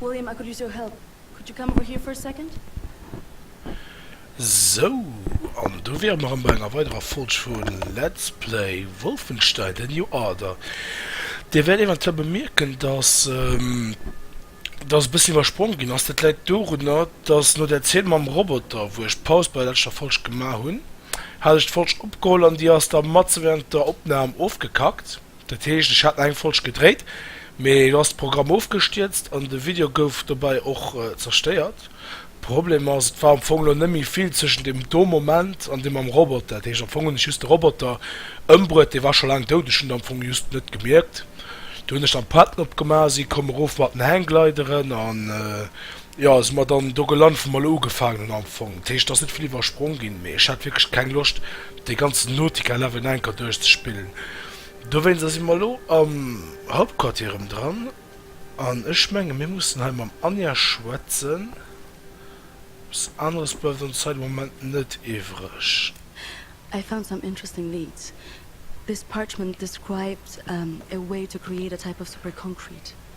William, I could use your help. Could you come over here for a second? Sou, an do wiere mer erëm bei enger weiderer Folg vu Let's Play Wolfenstein: The New Order. Dir wäert eventuell bemierken, dass dass e bëssen iwwerspronge ginn ass. Dat läit dorunner, dass no där Zeen mam Roboter, wou ech Paus bei der leschter Folg gemaach hunn, hat ech d'Folg opgeholl an déi ass da matzen wärend der Opnam ofgekackt. Dat heescht ech hat eng Folg gedréit, mee lo ass de Programm ofgestierzt an de Video gouf dobei och zerstéiert. Problem ass, et war am Fong lo net méi vill zwëschen dem do Moment an dem mam Roboter. Dat heescht am Fong hunn ech just de Roboter ëmbruet, dee war scho laang dout, ech hunn et am Fong just net gemierkt. Du hunn ech dann d'Patten opgemaach, si komm erof mat den Hangglideren an Jo, si mer dann do gelant, wou mer elo ugefaangen hunn am Fong. Dat heescht, et ass net vill iwwersprong ginn, mee ech hat wierklech keng Loscht, dee ganzen Nautica-Level nach eng Kéier duerchzespillen. Dowéinster si mer elo am Hauptquartier erëm dran an ech menge mir mussen hei mam Anja schwätzen. Eppes aneres bleift ons hei de Moment net iwwreg. I found some interesting leads. This parchment described a way to create a type of super concrete.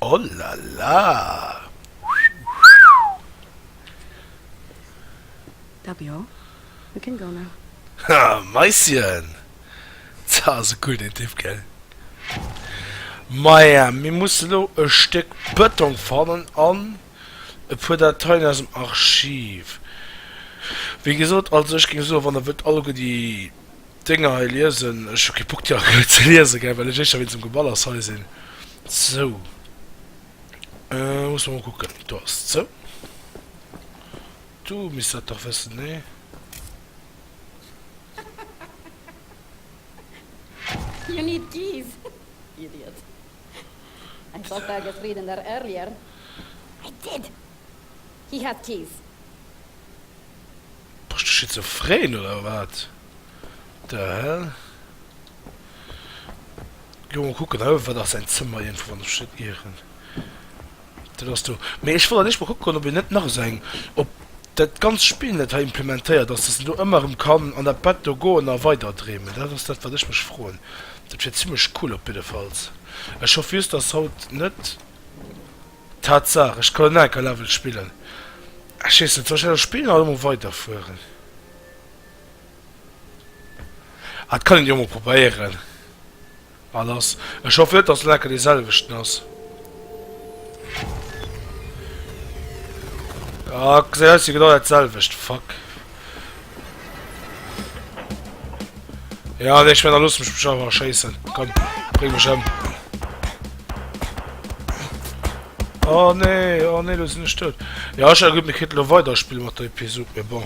Olala! Haa, Maischen! Zah, ass e cool deen Typ, gell? Maja, mir musse lo e Stéck Bëtong fannen an e puer Dateien aus dem Archiv. Wéi gesot, also ech géing soen, wann der wëllt alleguer déi Dénger hei liesen. Ech hu kee Bock déi aktuell ze liesen, gell, well ech éischter wéinst dem Geballers hei sinn. Sou, musse mer mol kucken. Do ass et. Sou, du misst dat dach wëssen, nee? Hi hat d'Hiv. Bass du schizophren oder wat? The hell? Lo mol kucken hei, wat ass säin Zëmmer iergendwou, wann ech mech net ieren? Dat ass do. Mee ech wollt an eescht mol kucken, ob een net nach esou eng, ob dat ganzt Spill net hei implementéiert ass, dass en do ëmmer erëm kann an dat Bett do goen a weider dreemen. Dat ass dat, wat ech mech froen. Dat wier zimmlech cool op jiddefalls. Ech hoffen just, dass haut net. Tatsach, ech kann en anker Level spillen. Ech wees net, soll ech dat spillen oder emol weiderfueren? Ah et kann een jo emol probéieren. Bah lass, ech hoffen net dass en anker dee selwechten ass. Ah gesäit aus wéi genau dat selwecht, fuck. Ja, nee, ich werde da los mich schon mal scheißen. Komm, bring mich um. Oh nee, oh nee, du sind nicht tot. Ja, ich gut, wir können noch weiterspielen mit der Episode, aber bon.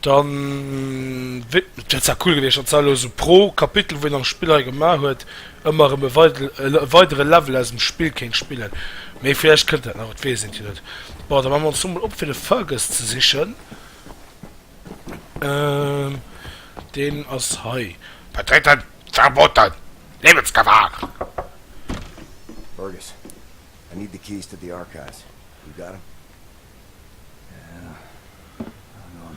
Dann wird es ja cool gewesen, dass so pro Kapitel, wo ihr am Spieler gemacht habt, ëmmer erëm e weidere Level aus dem Spill kéint spillen. Mee villäicht kënnt dat nach, et weess eent jo net. Bon, da maache mer ons do mol op fir de Fergus ze sichen. Ehm, deen ass hei. Betreten verboten! Liewensgefahr! Fergus, I need the keys to the archives. You got em? Yeah, hang on.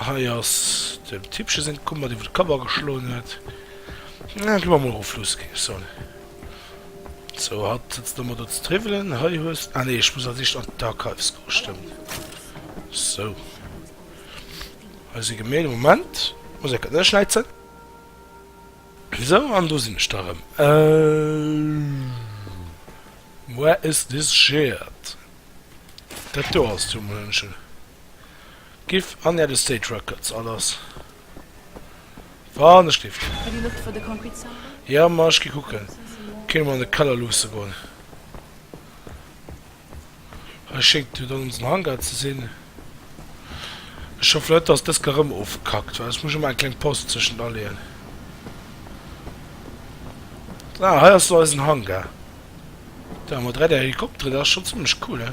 Hei ass dem Tippche seng Kummer, déi wou de Kapp ageschloen huet. Ech gi mer emol erof luusse, géing ech soen. Sou, hatt sëtzt elo emol do ze triwwelen. Hei hues de, ah nee, ech muss als éischt an d'Archives goen, stëmmt. Sou. Hei si Gemälde, Moment, muss eng Kéier neschnäizen. Sou, an do sinn ech da erëm. Where is this shirt? Dat do ass d'Jungmënchen. Giff an Äer Estate Records all ass wann ech géif ginn. Jo ma ech gi kucken kenne mer an de Keller luusse goen. Hei schéngt jo dann onsen Hangar ze sinn. Ech hoffen net dass dëst ka rëm ofgekackt well ech muss ëmmer eng kleng Paus zwëschent aleeën. Ah hei ass lo eisen Hangar. Dei mat 3D Helikopteren dat ass schonn zimmlech cool he.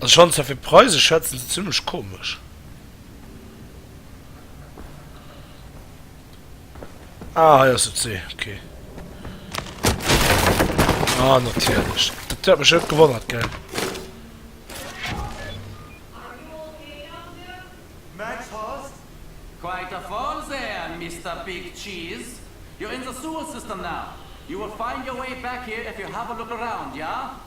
Also ech fannen zwar fir d'Preise schätzen se zimmlech komesch. Ah hei ass et se, ok. Ah natierlech. Dat huet mech net gewonnert gell.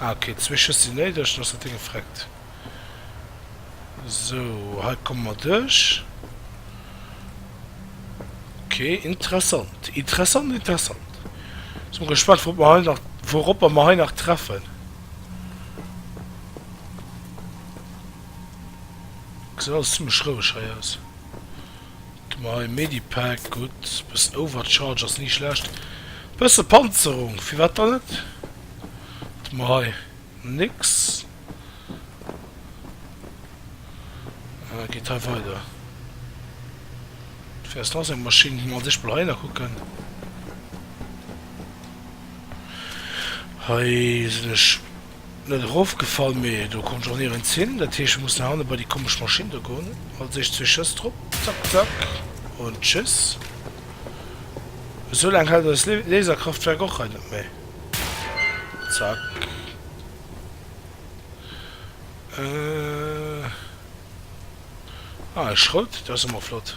Ah ok, zwee Schëss si néideg, dann ass dat Ding gefreckt. Sou, hei komme mer duerch. Ok, interessant, interessant, interessant. Sou, bin gespannt, wourop mer hei nach, wouropper mer hei nach treffen. Gesäit alles zimmlech roueg hei aus. Mai Medipack, gutt, bëssen Overcharge ass ni schlecht, bësse Panzerung, firwat dann net? Mai nix, geet hei weider, fir ass nach sou eng Maschinn, gi mer an sech mol hei nach kucken, hei sinn ech. Net erofgefall, mee do konnt ech och nirgends hin. Dat heescht, ech muss no hanne bei déi komesch Maschinn do goen. Als éischt zwee Schëss drop, zack, zack, und tschüss. Esou laang hält eist Laserkraftwerk och hei net méi. Zack. Ah, e Schroutdéi, dat ass jo mol flott.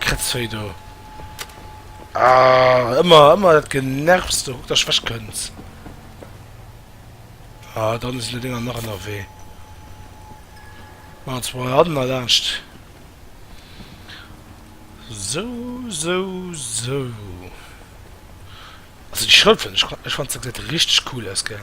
Kretzvei do. Ah, ëmmer, ëmmer dat Genervs do. Kuck, dass ech wech kënnt. Ah, dann si lo Dinger nach ënnerwee. Maan ze mol hannen a laanscht. Sou, sou, sou. Also déi Schrëpfen, ech, ech fannt se gesäit richteg cool aus, gell.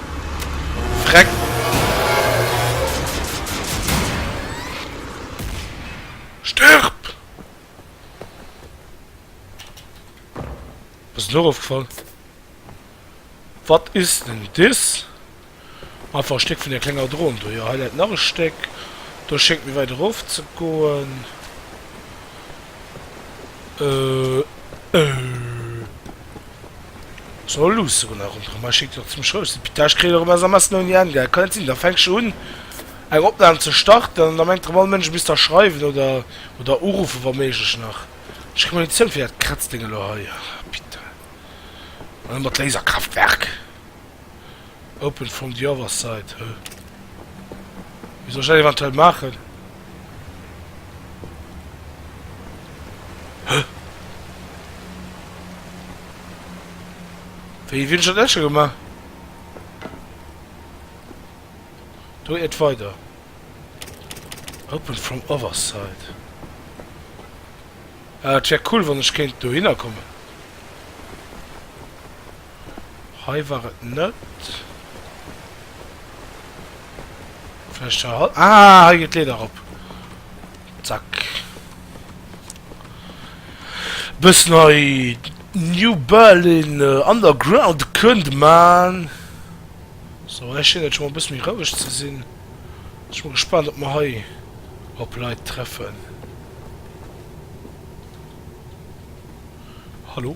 Freck. Stërb! Ass et lo erofgefall? Wat is denn dis? Einfach e Stéck vun där klenger Dron do. Jo, hei läit nach e Stéck. Do schéngt méi wäit erof ze goen. Äh. Äh. So luussen mer nach ronderëm, hei schéngt jo zimlech roueg ze sinn. Pita, ech kréien erëm SMSen ouni Enn, gell? Kann net sinn, da fänksch un eng Opnahm ze starten an da mengt erëm all Mënsch, ech misst der schreiwen oder oder uruffen, wa méiglech nach. Ech kréi Munition fir dat Kratzdéng elo hei. Pita, an ëmmer d'Laserkraftwerk. Open from the other side, huh? Wéi soll ech dat eventuell maachen? Huh? Wéi wien ech dat net scho gemaach? Do et weider. Open from other side. Äh, et wär cool, wann ech kéint dohinner kommen. Hei war et net. Vläicht hei. Ah, hei geet d'Leeder erop. Zack. Bëssen hei New Berlin äh, Underground kënnt man. So, hei schéngt et scho mol e bësse méi roueg ze sinn. Sech mol gespaant, ob mer hei op Leit treffen. Hallo?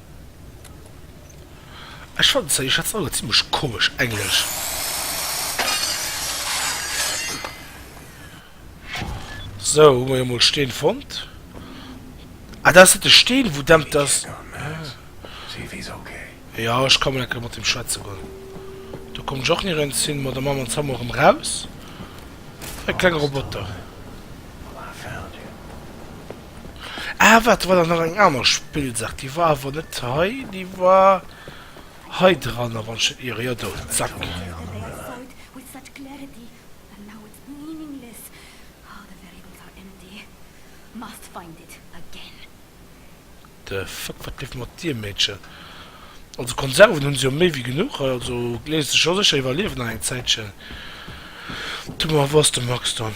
Ech fannen zwar, Dir schwätzt all zimlech komesch Englesch. Sou, hu mer jo mol Steen fonnt. Ah, dat ass net de Steen, wou demmt ass. Jo, ech ka mol eng Kéier mat deem schwätze goen. Do kommen ech och ni rënz hin. Ma da maache mer en Zaumer erëm raus. E klenge Roboter. Ah waart, do war der nach eng aner Spillsaach, déi war awer net hei, déi war hei dran a wann ech net iere, jo do, zack. The fuck, wat leeft mat dir Meedchen? Also Konserven hunn se jo méi wéi genuch, also léisst sech jo sécher iwwerliewen nach eng Zäitchen. Du, ma wou ass de Max dann?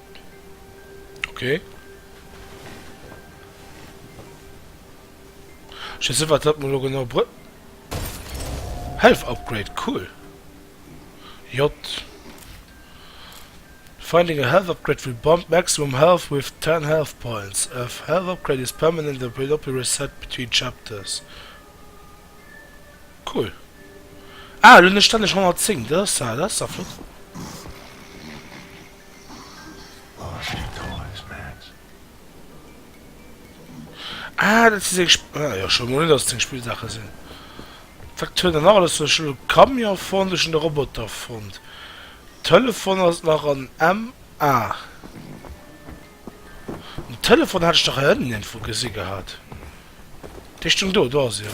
Ok. Ech weess net wat dat mol lo genau br. Health upgrade, cool. J. Finding a health upgrade will bump maximum health with 10 health points. F. Health upgrade is permanent and will not be reset between chapters. Cool. Ah, elo hunn ech stänneg 110, dat ass dat, dat ass da flott. Ah dat si seng Sp. Ah jo, ech wouss mol net dass et seng Spillsaache sinn. Wat huet en nach alles? Ech hunn e Camion fonnt, ech hunn e Roboter fonnt. Telefon ass nach an M. Ah. Den Telefon hat ech dach hei ënnen iergendwou gesi gehat. Dee stoung do, do ass e jo.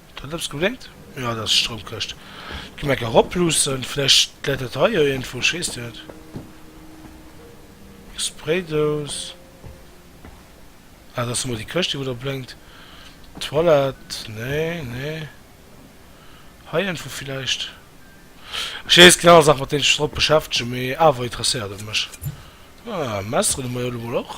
Dat huet eppes geblénkt? Jo, dat ass d'Stroumkëscht. Gi mer gär ropluussen, vläicht läit dat hei jo iergendwou, schéisst Dir et? Eng Spraydous. Ah, dat ass emol déi Këscht, déi wou do blénkt. D'Toilette? Nee, nee. Hei iergendwou vläicht? Ech weess, et ginn aner Saachen, mat deenen ech mech drop beschäftegen, mee awer interesséiert et mech. Ah, Messeren hu mer jo elo mol och.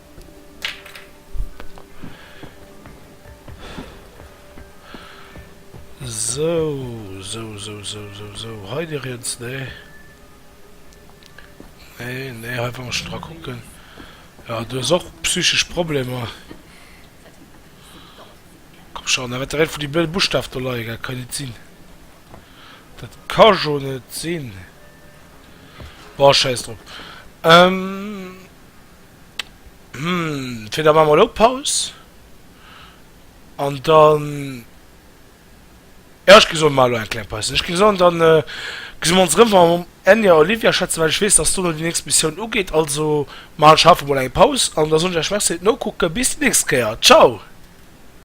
Sou, sou, sou, sou, sou, sou. Hei dech eens, nee. Nee, nee, hei wor ech dra kucken. Ja, du hues och psychesch Problemer. Komm schon, da wäert der een vun déi blöde Buschtaf do leie gell, kann jo net sinn. Dat ka jo net sinn. Bon, schäiss drop. Ähm. Fir da maache mer elo Paus an dann, jo ech gi soen, maache elo eng kleng Paus. Ech gi soen, dann gesi mer ons erëm wa mer mam Enya a Olivia schwätzen, well ech weess, dass dono déi nächst Missioun ugeet. Also maachen ech haut emol eng Paus an da soen ech iech Merci fir d'Nokucken. Bis déi nächst Kéier. Ciao!